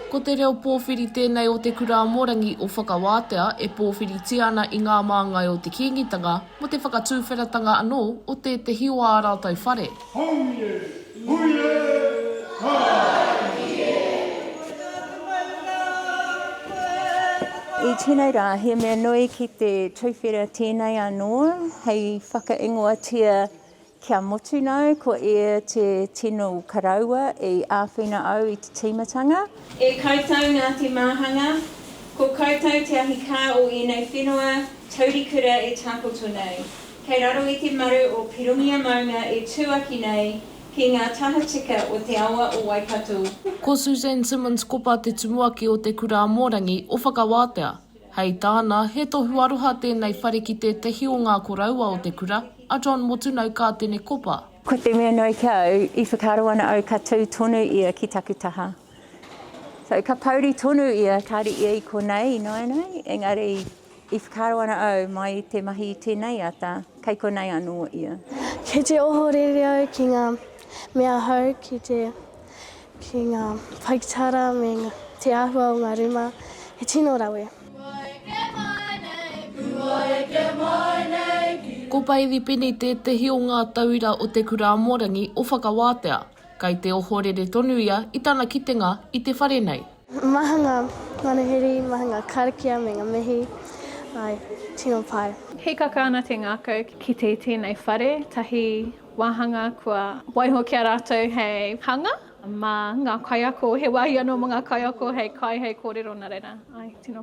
Ko te reo pōwhiri tēnei o Te Kurāmorangi o Whakawātea e pōwhiritia ana i ngā māngai o te Kīngitanga mō te whakatūwheratanga anō o tētehi o ā rātou whare. Haumie! Hui e! Haumie! I tēnei rā, he mea nui ki te tuwhera tēnei anō hei whakaingoatia kia motu nāu ko ia te tino karaua i āwhina au i te tīmatanga. E koutou nā te māhanga, ko koutou te ahikā o ēnei whenua taurikura e tākoto nei. Kei raro i te maru o Pirongia maunga e tūaki nei ki ngā tahatika o te awa o Waikato. Ko Suzanne Simmons Kopa te tumuaki o Te Kura Amorangi o Whakawātea. Hei tāna, he tohu aroha tēnei whare ki tētehi o ngā koroua o te kura, a John Motunau Kātene Kopa. Ko te mea nui ki au, i whakaaro ana au ka tū tonu ia ki taku taha. So, ka pouri tonu ia, kāre ia i konei ināianei, engari I whakaaro ana au, mai i te mahi i tēnei ata, kei konei anō ia. Kei te ohorere au ki ngā mea hou, ki te, ki ngā paikitara me te āhua o ngā rūma, he tino rawe. Ko Bailey Penny tētehi o ngā tauira o Te Kura Amorangi o Whakawātea. Kei te ohorere tonu ia i tana kitenga i te whare nei. Maha ngā manuhiri, maha ngā karakia me ngā mihi, āe, tino pai. Hīkaka ana te ngākau ki te tēnei whare tahi wāhanga kua waiho ki a rātou hei hanga mā ngā kaiako, he wāhi anō mō ngā kaiako hei kai, hei kōrero nā reira, āe, tino pai.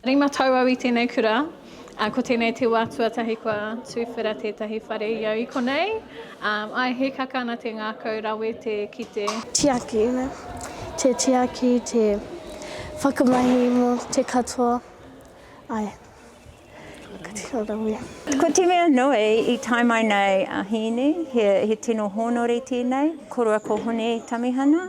Rima tau au i tēnei kura, ā, ko tēnei te wā tuatahi kua tuwhera tētahi whare i au i konei. Ā, āe, he kaka ana te ngākau rawe te kite. Tiaki, te tiaki, te whakamahi mō te katoa, āe, ka tino rawe. Ko te mea nui, i tae mai nei a Hīni, he tino hōnore tēnei, korua ko Hone Tamihana,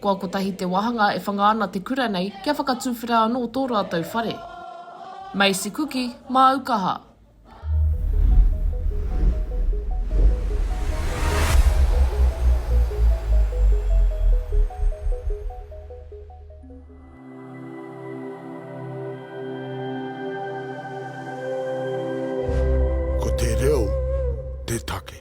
Kua kotahi te wāhanga e whanga ana te kura nei kia whakatuwhera anō tō rātou whare. Macy Kuki, māu kaha. Ko te reo te take.